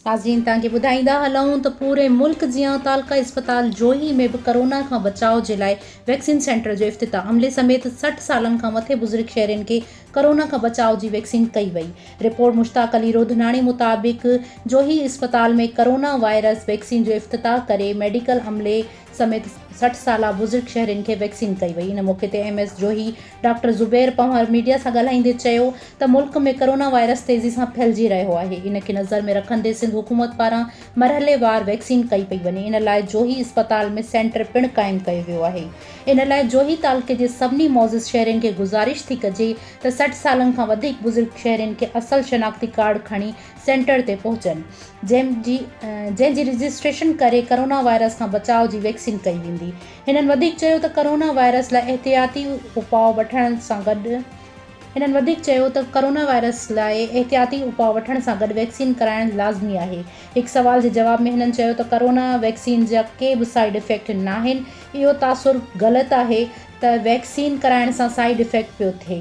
ناظرين توهان کي ٻڌائيندا هلون ته پوري ملڪ جيان تعلقه اسپتال جوهي ۾ به ڪرونا کان بچاء جي لاء ويڪسين سينٽر جو افتتاح عملي سميت سٺ سالن کان مٿي بزرگ شهرين کي ڪرونا کان بچاء جي ويڪسين ڪئي وئي رپورٽ مشتاق علي روڌناڻي مطابق جوهي اسپتال ۾ ڪرونا وائرس ويڪسين جو افتتاح ڪري ميڊيڪل عملي سميت سٺ سالا بزرگ شهرين کي ويڪسين ڪئي وئي ان موقعي تي M S Johi doctor Zubair Panhwar media سان ڳالهائيندي چيو ته ملڪ ۾ ڪرونا وائرس تيزي سان ڦهلجي رهيو آهي ان کي نظر ۾ رکندي سنڌ حڪومت پاران مرحلي وار ويڪسين ڪئي پئي وڃي ان لاء جوهي اسپتال ۾ سينٽر پڻ قائم ڪيو ويو آهي ان لاء جوهي تعلقي جي سڀني معزز شهرين کي گذارش ٿي ڪجي ته سٺ سالن کان وڌيڪ بزرگ شهرين کي اصل شناختي ڪارڊ کڻي سينٽر تي پهچن جنهن جي جنهن جي رجسٽريشن ڪري ڪرونا وائرس کان بچاء جي ويڪسين ڪئي ويندي هنن وڌيڪ چيو ته ڪرونا وائرس لاء احتياطي اپاء وٺڻ سان گڏ هنن وڌيڪ چيو ته ڪرونا وائرس لاء احتياطي اپاء وٺڻ سان گڏ ويڪسين ڪرائڻ لازمي آهي هڪ سوال جي جواب ۾ هنن چيو ته ڪرونا ويڪسين جا ڪي به سائيڊ افيڪٽ ناهن اهو تاثر غلط آهي ته ويڪسين ڪرائڻ سان سائيڊ افيڪٽ پيو ٿئي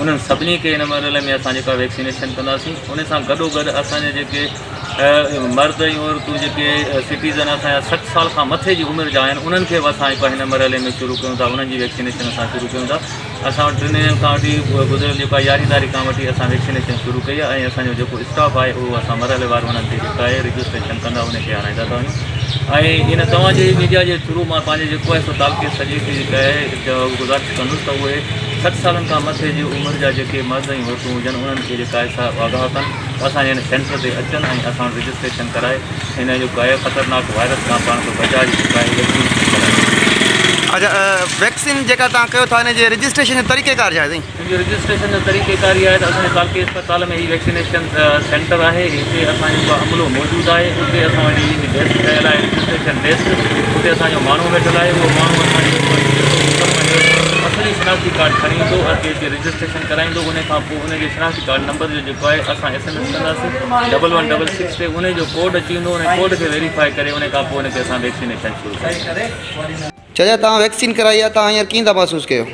انهن سڀني کي ان مرحلي ۾ اسان جيڪا ويڪسينيشن ڪنداسين ان سان گڏو گڏ اسان جا جيڪي مرد ۽ عورتون جيڪي سٽيزن اسان جا سٺ سال کان مٿي جي عمر جا آهن انهن کي به اسان جيڪو هن مرحلي ۾ شروع ڪيون ٿا انهن جي ويڪسينيشن اسان شروع ڪيون ٿا اسان وٽ ٽن ڏينهن کان وٺي گذريل جيڪا يارهين تاريخ کان وٺي اسان ويڪسينيشن شروع ڪئي آهي ۽ اسان جو جيڪو اسٽاف آهي اهو اسان مرحلي وار انهن کي جيڪا آهي رجسٽريشن ڪندا ان کي آڻائيندا ٿا وڃون ۽ ان توهان جي ميڊيا جي ٿرو مان پنهنجي جيڪو آهي سو تعلقي سڄي کي جيڪا آهي گذارش ڪندس ته اهي سٺ سالن کان مٿي جي عمر جا جيڪي مرد ۽ عورتون هجن انهن کي جي قائد صاحب آگاهه ڪن ته اسان جي هن سينٽر تي اچن ۽ اسان وٽ رجسٽريشن ڪرائي هن جو ڪاهي خطرناڪ وائرس کان پاڻ کي بچاء جي جي ڪاهي ويڪسين کي ڪرائي. اچا ويڪسين جيڪا توهان ڪيو ٿا ان جي رجسٽريشن جو طريقيڪار ڇا آهي سائين؟ ان جي رجسٽريشن جو طريقيڪار هي آهي ته اسان جي ڪالڪي اسپتال ۾ هي ويڪسينيشن سينٽر آهي هتي اسان جو ڪو عملو موجود آهي اتي اسان وٽ هي ڊيسڪ ٺهيل آهي رجسٽريشن ڊيسڪ اتي اسان جو ماڻهو ويٺل آهي اهو ماڻهو اسان جي جيڪو هتي ويندو اوپر پنهنجو اصلي شناختي ڪارڊ کڻي ايندو اتي اچي رجسٽريشن ڪرائيندو ان کان پوء ان جي شناختي ڪارڊ نمبر جو جيڪو آهي اسان ايس ايم ايس ڪنداسين ڊبل ون ڊبل سڪس تي ان جو ڪوڊ اچي ويندو ان ڪوڊ کي ويريفائي ڪري ان کان پوء ان کي اسان ويڪسينيشن شروع ڪنداسين چاچا توهان ويڪسين ڪرائي آهي توهان هينئر ڪيئن ٿا محسوس ڪيو.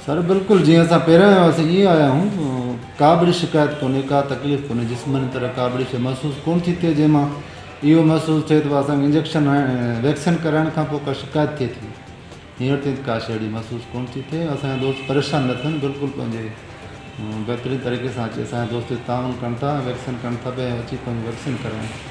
سر بلڪل جيئن اسان پهريان آيا هئاسين ايئن آيا آهيون ڪا به اهڙي شڪايت ڪونهي ڪا تڪليف ڪونهي جسماني طرح ڪا به اهڙي شيء محسوس ڪونه ٿي ٿئي جنهن مان اهو محسوس ٿئي ته اسان کي انجيڪشن هڻڻ ويڪسين ڪرائڻ کان پوء ڪا شڪايت ٿئي ٿي هينئر تائين ته ڪا شيء اهڙي محسوس ڪونه ٿي ٿئي اسان جا دوست پريشان نه ٿين بلڪل پنهنجي بهترين طريقي سان اچي اسان جا دوست تعاون ڪن ٿا ۽ ويڪسين ڪن ٿا پيا ۽ اچي پنهنجي ويڪسين ڪرائين